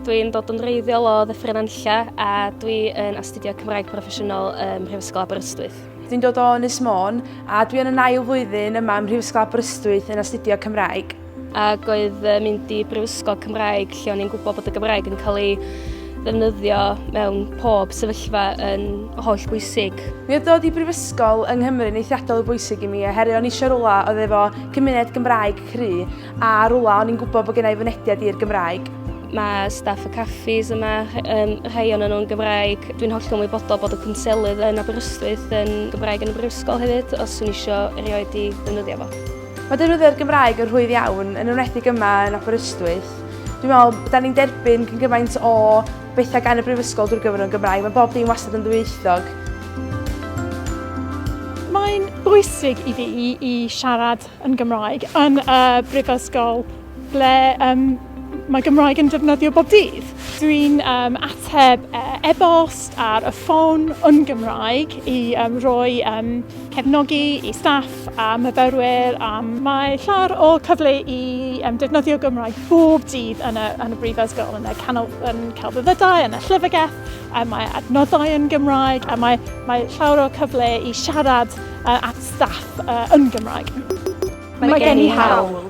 Dwi'n dod yn reiddiol o Ddyffryn Anlla a dwi yn astudio Cymraeg Proffesiynol ym Mhrifysgol Aberystwyth. Dwi'n dod o Ynys Môn a dwi yn yn ail flwyddyn yma ym Mhrifysgol Aberystwyth yn astudio Cymraeg. Ac oedd mynd i Brifysgol Cymraeg lle o'n i'n gwybod bod y Gymraeg yn cael ei ddefnyddio mewn pob sefyllfa yn holl bwysig. Mi oedd dod i brifysgol yng Nghymru yn eithriadol o bwysig i mi oherwydd o'n eisiau rwla oedd efo cymuned Gymraeg cry a rwla o'n i'n gwybod bod gennau fynediad i'r Gymraeg. Mae staff y caffis yma, um, rhai o'n nhw'n Gymraeg. Dwi'n hollol wybodol bod y cwnselydd yn Aberystwyth yn Gymraeg yn y brifysgol hefyd, os yw'n eisiau erioed i ddefnyddio fo. Mae defnyddio'r Gymraeg yn rhwydd iawn, yn enwedig yma yn Aberystwyth. Dwi'n meddwl, da ni'n derbyn cyn gymaint o bethau gan y Brifysgol drwy gyfrwng Gymraeg. Mae bob dim wastad yn ddwyieithog. Mae'n bwysig i fi i siarad yn Gymraeg yn y brifysgol ble um, mae Gymraeg yn defnyddio bob dydd. Dwi'n um, ateb e-bost ar y ffôn yn Gymraeg i um, roi um, cefnogi i staff a myfyrwyr a mae llawer o cyfle i um, defnyddio Gymraeg bob dydd yn y, yn y brifysgol, yn y canol, yn celfyddydau, yn y llyfrgell, a mae adnoddau yn Gymraeg a mae, mae llawer o cyfle i siarad uh, at staff uh, yn Gymraeg. Mae, mae gen i hawl